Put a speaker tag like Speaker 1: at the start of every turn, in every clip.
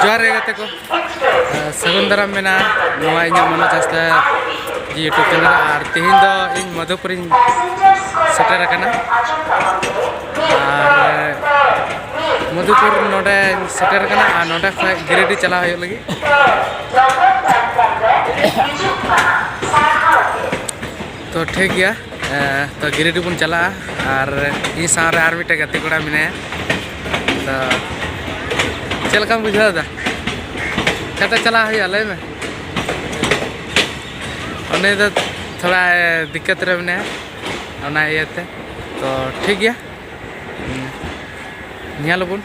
Speaker 1: ᱡᱚᱦᱟᱨ ᱜᱮ ᱜᱟᱛᱮ ᱠᱚ ᱥᱟᱹᱜᱩᱱ ᱫᱟᱨᱟᱢ ᱢᱮᱱᱟᱜᱼᱟ ᱱᱚᱣᱟ ᱤᱧᱟᱹᱜ ᱢᱚᱱᱳ ᱪᱟᱥᱛᱟ ᱤᱭᱩᱴᱩᱵᱽ ᱪᱮᱱᱮᱞ ᱟᱨ ᱛᱮᱦᱮᱧ ᱫᱚ ᱤᱧ ᱢᱚᱫᱷᱩᱯᱩᱨᱤᱧ ᱥᱮᱴᱮᱨ ᱟᱠᱟᱱᱟ ᱟᱨ ᱢᱚᱫᱷᱩᱯᱩᱨ ᱱᱚᱰᱮ ᱥᱮᱴᱮᱨ ᱟᱠᱟᱱᱟ ᱟᱨ ᱱᱚᱰᱮ ᱠᱷᱚᱱ ᱜᱤᱨᱤᱰᱤ ᱪᱟᱞᱟᱣ ᱦᱩᱭᱩᱜ ᱞᱟᱹᱜᱤᱫ ᱛᱚ ᱴᱷᱤᱠ ᱜᱮᱭᱟ ᱛᱚ ᱜᱤᱨᱤᱰᱤ ᱵᱚᱱ ᱪᱟᱞᱟᱜᱼᱟ ᱟᱨ ᱤᱧ ᱥᱟᱶᱨᱮ ᱟᱨ ᱢᱤᱫᱴᱮᱱ ᱜᱟᱛᱮ ᱠᱚᱲᱟ ᱢᱮᱱᱟᱭᱟ ᱛᱚ ᱪᱮᱫ ᱞᱮᱠᱟᱢ ᱵᱩᱡᱷᱟᱹᱣ ᱮᱫᱟ ᱪᱟᱛᱮ ᱪᱟᱞᱟᱜ ᱦᱩᱭᱩᱜᱼᱟ ᱞᱟᱹᱭ ᱢᱮ ᱩᱱᱤ ᱫᱚ ᱛᱷᱚᱲᱟ ᱫᱤᱠᱠᱟᱛ ᱨᱮ ᱢᱮᱱᱟᱭᱟ ᱚᱱᱟ ᱤᱭᱟᱹᱛᱮ ᱛᱚ ᱴᱷᱤᱠ ᱜᱮᱭᱟ ᱧᱮᱞ ᱟᱵᱚᱱ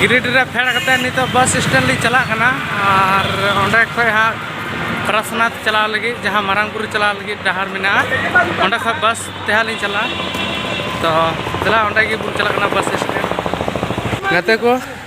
Speaker 1: ᱜᱤᱨᱤᱰᱤ ᱨᱮ ᱯᱷᱮᱰ ᱠᱟᱛᱮ ᱱᱤᱛᱚᱜ ᱵᱟᱥ ᱥᱴᱮᱱᱰ ᱞᱤᱧ ᱪᱟᱞᱟᱜ ᱠᱟᱱᱟ ᱟᱨ ᱚᱸᱰᱮ ᱠᱷᱚᱡ ᱦᱟᱸᱜ ᱯᱨᱟᱥᱱᱟᱛᱷ ᱪᱟᱞᱟᱣ ᱞᱟᱹᱜᱤᱫ ᱡᱟᱦᱟᱸ ᱢᱟᱨᱟᱝ ᱵᱩᱨᱩ ᱪᱟᱞᱟᱣ ᱞᱟᱹᱜᱤᱫ ᱰᱟᱦᱟᱨ ᱢᱮᱱᱟᱜᱼᱟ ᱚᱸᱰᱮ ᱠᱷᱚᱡ ᱵᱟᱥ ᱛᱮ ᱦᱟᱸᱜ ᱞᱤᱧ ᱪᱟᱞᱟᱜᱼᱟ ᱛᱚ ᱫᱮᱞᱟ ᱚᱸᱰᱮ ᱜᱮᱵᱚᱱ ᱪᱟᱞᱟᱜ ᱠᱟᱱᱟ ᱵᱟᱥ ᱥᱴᱮᱱᱰ ᱜᱟᱛᱮ ᱠᱚ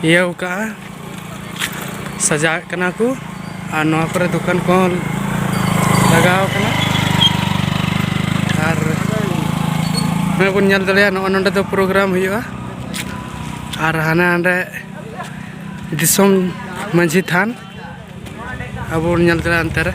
Speaker 1: ᱤᱭᱟᱹᱣ ᱠᱟᱜᱼᱟ ᱥᱟᱡᱟᱣᱮᱫ ᱠᱟᱱᱟ ᱠᱚ ᱟᱨ ᱱᱚᱣᱟ ᱠᱚᱨᱮ ᱫᱚᱠᱟᱱ ᱠᱚᱦᱚᱸ ᱞᱟᱜᱟᱣ ᱠᱟᱱᱟ ᱟᱨ ᱱᱚᱜᱼᱚᱭ ᱵᱚᱱ ᱧᱮᱞ ᱫᱟᱲᱮᱭᱟᱜᱼᱟ ᱱᱚᱜᱼᱚ ᱱᱚᱰᱮ ᱫᱚ ᱯᱨᱳᱜᱨᱟᱢ ᱦᱩᱭᱩᱜᱼᱟ ᱟᱨ ᱦᱟᱱᱮ ᱦᱟᱸᱰᱮ ᱫᱤᱥᱚᱢ ᱢᱟᱺᱡᱷᱤ ᱛᱷᱟᱱ ᱟᱵᱚ ᱵᱚᱱ ᱧᱮᱞ ᱫᱟᱲᱮᱭᱟᱜᱼᱟ ᱚᱱᱛᱮ ᱨᱮ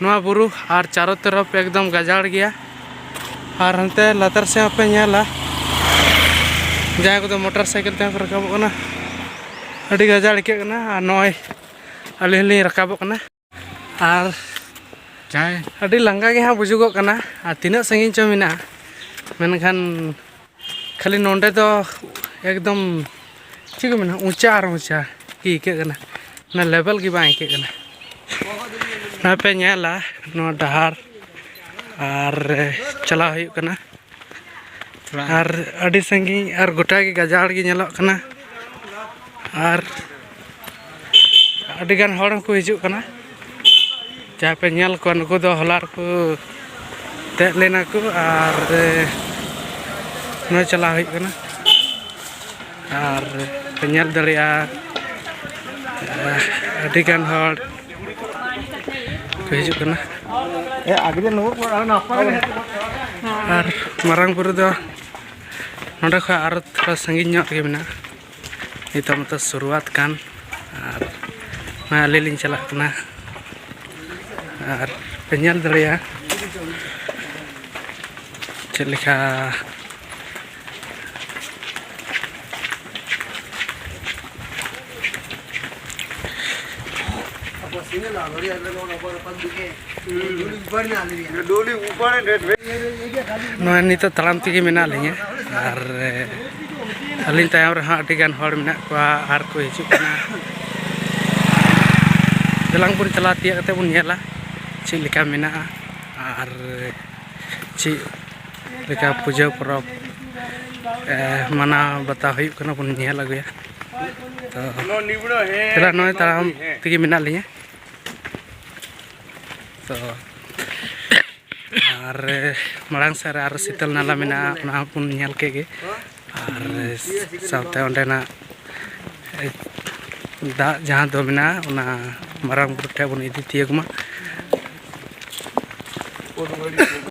Speaker 1: ᱱᱚᱣᱟ ᱵᱩᱨᱩ ᱟᱨ ᱪᱟᱨᱚ ᱛᱚᱨᱚᱯ ᱮᱠᱫᱚᱢ ᱜᱟᱡᱟᱲ ᱜᱮᱭᱟ ᱟᱨ ᱦᱟᱱᱛᱮ ᱞᱟᱛᱟᱨ ᱥᱮᱫ ᱦᱚᱸᱯᱮ ᱧᱮᱞᱟ ᱡᱟᱦᱟᱸᱭ ᱠᱚᱫᱚ ᱢᱚᱴᱚᱨ ᱥᱟᱭᱠᱮᱞ ᱛᱮᱦᱚᱸ ᱠᱚ ᱨᱟᱠᱟᱵᱚᱜ ᱠᱟᱱᱟ ᱟᱹᱰᱤ ᱜᱟᱡᱟᱲ ᱟᱹᱭᱠᱟᱹᱜ ᱠᱟᱱᱟ ᱟᱨ ᱱᱚᱜᱼᱚᱭ ᱟᱹᱞᱤᱧ ᱦᱚᱸᱞᱤᱧ ᱨᱟᱠᱟᱵᱚᱜ ᱠᱟᱱᱟ ᱟᱨ ᱡᱟᱦᱟᱸᱭ ᱟᱹᱰᱤ ᱞᱟᱸᱜᱟ ᱜᱮ ᱦᱟᱸᱜ ᱵᱩᱡᱩᱜᱚᱜ ᱠᱟᱱᱟ ᱟᱨ ᱛᱤᱱᱟᱹᱜ ᱥᱟᱺᱜᱤᱧ ᱪᱚᱝ ᱢᱮᱱᱟᱜᱼᱟ ᱢᱮᱱᱠᱷᱟᱱ ᱠᱷᱟᱹᱞᱤ ᱱᱚᱰᱮ ᱫᱚ ᱮᱠᱫᱚᱢ ᱪᱮᱫ ᱠᱚ ᱢᱮᱱᱟ ᱩᱪᱟ ᱟᱨ ᱩᱪᱟ ᱜᱮ ᱟᱹᱭᱠᱟᱹᱜ ᱠᱟᱱᱟ ᱚᱱᱟ ᱞᱮᱵᱮᱞ ᱜᱮ ᱵᱟᱝ ᱟᱹᱭᱠᱟᱹᱜ ᱠᱟᱱᱟ ᱱᱚᱣᱟ ᱯᱮ ᱧᱮᱞᱟ ᱱᱚᱣᱟ ᱰᱟᱦᱟᱨ ᱟᱨ ᱪᱟᱞᱟᱣ ᱦᱩᱭᱩᱜ ᱠᱟᱱᱟ ᱟᱨ ᱟᱹᱰᱤ ᱥᱟᱺᱜᱤᱧ ᱟᱨ ᱜᱚᱴᱟᱜᱮ ᱜᱟᱡᱟᱲ ᱜᱮ ᱧᱮᱞᱚᱜ ᱠᱟᱱᱟ ᱟᱨ ᱟᱹᱰᱤᱜᱟᱱ ᱦᱚᱲ ᱦᱚᱸᱠᱚ ᱦᱤᱡᱩᱜ ᱠᱟᱱᱟ ᱡᱟᱦᱟᱸ ᱯᱮ ᱧᱮᱞ ᱠᱚᱣᱟ ᱱᱩᱠᱩ ᱫᱚ ᱦᱚᱞᱟ ᱨᱮᱠᱚ ᱫᱮᱡ ᱞᱮᱱᱟ ᱠᱚ ᱟᱨ ᱱᱚᱜᱼᱚᱭ ᱪᱟᱞᱟᱣ ᱦᱩᱭᱩᱜ ᱠᱟᱱᱟ ᱟᱨ ᱯᱮ ᱧᱮᱞ ᱫᱟᱲᱮᱭᱟᱜᱼᱟ ᱟᱹᱰᱤᱜᱟᱱ ᱦᱚᱲ ᱠᱚ ᱦᱤᱡᱩᱜ ᱠᱟᱱᱟ ᱟᱨ ᱢᱟᱨᱟᱝ ᱵᱩᱨᱩ ᱫᱚ ᱱᱚᱸᱰᱮ ᱠᱷᱚᱡ ᱟᱨᱚ ᱛᱷᱚᱲᱟ ᱥᱟᱺᱜᱤᱧ ᱧᱚᱜ ᱨᱮᱜᱮ ᱢᱮᱱᱟᱜᱼᱟ ᱱᱤᱛᱚᱜ ᱢᱟᱛᱚ ᱥᱩᱨᱩᱣᱟᱛ ᱠᱟᱱ ᱟᱨ ᱱᱚᱜᱼᱚᱭ ᱟᱞᱮ ᱞᱤᱧ ᱪᱟᱞᱟᱜ ᱠᱟᱱᱟ ᱟᱨ ᱯᱮ ᱧᱮᱞ ᱫᱟᱲᱮᱭᱟᱜᱼᱟ ᱪᱮᱫ ᱞᱮᱠᱟ ᱱᱚᱜᱼᱚᱭ ᱱᱤᱛᱚᱜ ᱛᱟᱲᱟᱢ ᱛᱮᱜᱮ ᱢᱮᱱᱟᱜ ᱞᱤᱧᱟᱹ ᱟᱨ ᱟᱹᱞᱤᱧ ᱛᱟᱭᱚᱢ ᱨᱮᱦᱚᱸ ᱟᱹᱰᱤ ᱜᱟᱱ ᱦᱚᱲ ᱢᱮᱱᱟᱜ ᱠᱚᱣᱟ ᱟᱨ ᱠᱚ ᱦᱤᱡᱩᱜ ᱠᱟᱱᱟ ᱫᱮᱞᱟᱝ ᱵᱚᱱ ᱪᱟᱞᱟᱣ ᱛᱤᱭᱟᱹᱜ ᱠᱟᱛᱮ ᱵᱚᱱ ᱧᱮᱞᱟ ᱪᱮᱫ ᱞᱮᱠᱟ ᱢᱮᱱᱟᱜᱼᱟ ᱟᱨ ᱪᱮᱫ ᱞᱮᱠᱟ ᱯᱩᱡᱟᱹ ᱯᱚᱨᱚᱵᱽ ᱢᱟᱱᱟᱣ ᱵᱟᱛᱟᱣ ᱦᱩᱭᱩᱜ ᱠᱟᱱᱟ ᱵᱚᱱ ᱧᱮᱞ ᱟᱹᱜᱩᱭᱟ ᱛᱚ ᱱᱚᱜᱼᱚᱭ ᱛᱟᱲᱟᱢ ᱛᱮᱜᱮ ᱢᱮᱱᱟᱜ ᱞᱤᱧᱟᱹ ᱛᱚ ᱟᱨ ᱢᱟᱲᱟᱝ ᱥᱮᱫ ᱨᱮ ᱟᱨ ᱥᱤᱛᱟᱹᱞ ᱱᱟᱞᱟ ᱢᱮᱱᱟᱜᱼᱟ ᱚᱱᱟ ᱦᱚᱸᱵᱚᱱ ᱧᱮᱞ ᱠᱮᱫ ᱜᱮ ᱟᱨ ᱥᱟᱶᱛᱮ ᱚᱸᱰᱮᱱᱟᱜ ᱫᱟᱜ ᱡᱟᱦᱟᱸ ᱫᱚ ᱢᱮᱱᱟᱜᱼᱟ ᱚᱱᱟ ᱢᱟᱨᱟᱝ ᱵᱩᱨᱩ ᱴᱷᱮᱱ ᱵᱚᱱ ᱤᱫᱤ ᱛᱤᱭᱳᱜᱽ ᱢᱟ